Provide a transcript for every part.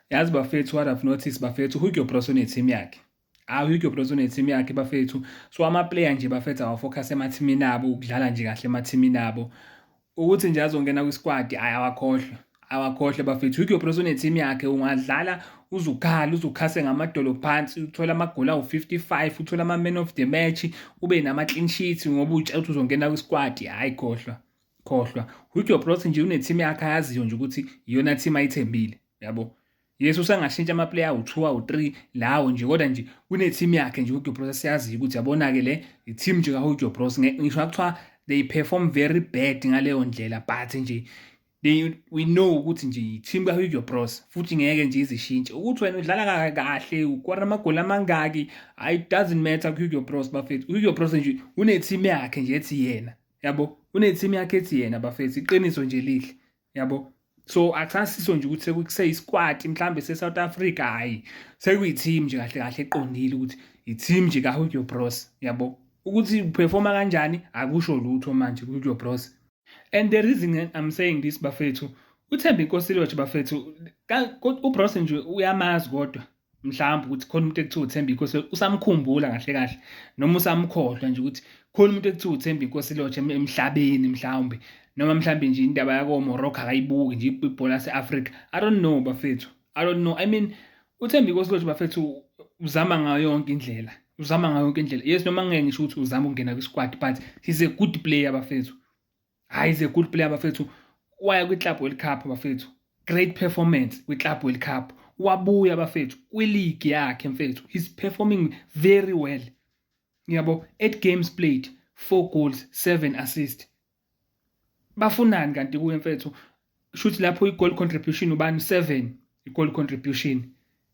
yazi bafethu what i've noticed bafethu hugo bros uneteam yakhe hayi hugo bros uneteam yakhe bafethu so amaplayer nje bafethu awafocus emathimini abo ukudlala nje kahle emathimini abo ukuthi nje azongena kwisquad hayi awakhohlwa awakhohle bafethu hugo bros uneteam yakhe ungadlala uzukhala uzukhase ngamadolo phansi uthole amagoli awu-55 uthole ama-man of the match ube nama-clean sheets ngoba utshe ukuthi uzongena kwisquad hhayi khohlwa khohlwa with your plot nje uneteam yakhe ayaziyo nje ukuthi iyona team ayithembile yabo yes usangashintsha amaplayer awu-two awu-three lawo nje kodwa nje kuneteam yakhe nje uhugo bros asiyaziyo ukuthi yabona-ke le iteam nje kahugo bros ngisho kuthiwa they perform very bad ngaleyo ndlela but nje they we know ukuthi nje yiteam kahugo bros futhi ngeke nje izishintshe ukuthi wena udlala kahle ukora amagoli amangaki it doesn't matter kuhugo bros bafethu uhugo bros nje uneteam yakhe nje ethi yena yabo uneteam yakhe ethi yena bafethu iqiniso nje lihle yabo so akusasiso nje ukuthi sekuseyisikwati mhlambe se-south africa hhayi sekuyi-team nje kahle kahle eqondile ukuthi i-team nje kahugio bros yabo ukuthi uphefoma kanjani akusho lutho manje kuhugio bros and the reason i'm saying this bafethu uthembe inkosi lotho bafethu ubros nje uyamazi kodwa mhlawumbe ukuthi khona umuntu ekuthiwa uthemba inkosi usamkhumbula kahle kahle noma usamkhohlwa nje ukuthi khona umuntu ekuthiwa uthemba inkosi lodge emhlabeni mhlawumbe noma mhlawumbe nje indaba yakomorocco akayibuki nje ibhola lase-afrika i don't know bafethu i don't know i mean uthemba inkosi lodge bafethu uzama ngayo yonke indlela uzama ngayo yonke indlela yes noma ngeke ngisho ukuthi uzama ukungena kwisquad but he's a good player bafethu hayi is a good player bafethu waya kwi-club world cup bafethu great performance kwi-club world cup wabuya bafethu kwiligi yakhe mfethu he's performing very well ngiyabo eight games played four goals seven assist bafunani kanti kuye mfethu shuthi lapho i-goal contribution ubani u-seven i-goal contribution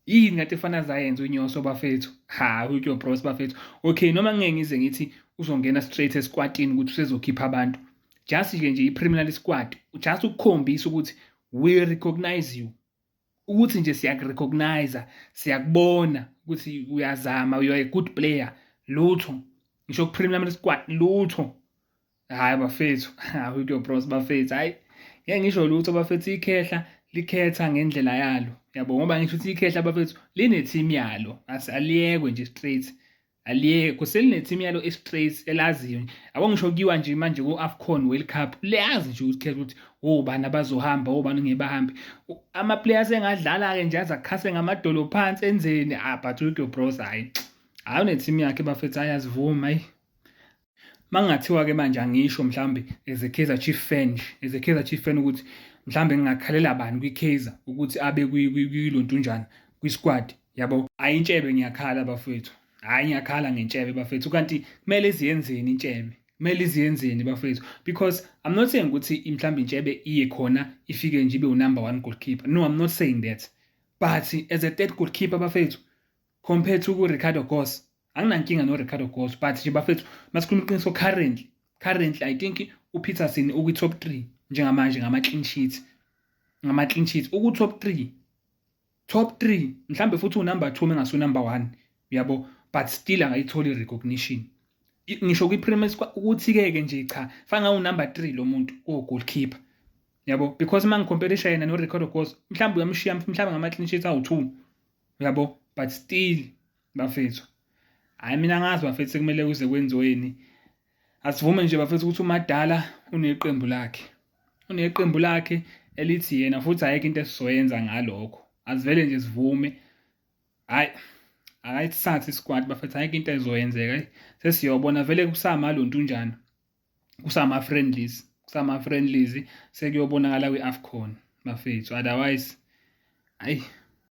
yini ngathi efana zayenza unyoso bafethu ha utyo bros bafethu okay noma ngeke ngize ngithi uzongena straight esikwatini ukuthi usezokhipha abantu just ke nje i-preliminary squad just ukukhombisa ukuthi we recognize you ukuthi nje siyakurecognize siyakubona ukuthi uyazama you are a good player lutho ngisho kupremier league squad lutho hayi bafethu hawu kuyo bros bafethu hayi ngeke ngisho lutho bafethu ikhehla likhetha ngendlela yalo yabo ngoba ngisho ukuthi ikhehla bafethu line team yalo aliyekwe nje straight aliye kuselinethimu yalo estraight elaziyo yabo ngisho kuyiwa nje manje ku-afcon world cup liyazi nje ukuthi khetha ukuthi obani abazohamba obani ngeke bahambe ama-players engadlala-ke nje aze akhase ngamadolo phansi enzeni ah but uhugo bros hhayi hhayi unethimu yakhe bafethu hhayi azivumi hhayi Makungathiwa-ke manje angisho mhlawumbe as a Kaizer Chief fan nje, as a Kaizer Chief fan ukuthi mhlawumbe ngingakhalela bani kwi-Kaizer ukuthi abe kuyilo ntunjana kwi-squad yabo. Hhayi intshebe ngiyakhala bafethu, hhayi ngiyakhala ngentshebe bafethu kanti kumele iziyenzeni intshebe kumele iziyenzeni bafethu because i'm not saying ukuthi mhlawumbe intshebe iye khona ifike nje ibe unumber one goalkeeper no i'm not saying that but as a third goalkeeper bafethu compared to ku-ricardo gos anginankinga no-ricardo gos but nje bafethu masikhuluma iqiniso currently currently i think upeterson ukwi-top three njengamanje ngama-clean sheet ngama-clean sheet uku-top three top three mhlawumbe futhi unumber two mengasunumber one uyabo but still angayitholi i-recognition ngisho kwi-premier ukuthi-ke-ke nje cha fanga unumber three lo muntu kuwo-goalkeeper yabo because uma ngikhompela ishayena no-ricardo gos mhlawumbe uyamshiya mhlawumbe ngama-clean sheet awu-two uyabo but still bafethu hayi mina ngazi bafethu sekumele kuze kwenziweni asivume nje bafethu ukuthi umadala uneqembu lakhe uneqembu lakhe elithi yena futhi ayikho into esizoyenza ngalokho asivele nje sivume hayi akayithathe isikwati bafethu ayikho into ezoyenzeka sesiyobona vele kusamaluntu unjani kusama-friendlies kusama-friendlies sekuyobonakala kwi-afcon bafethu otherwise hayi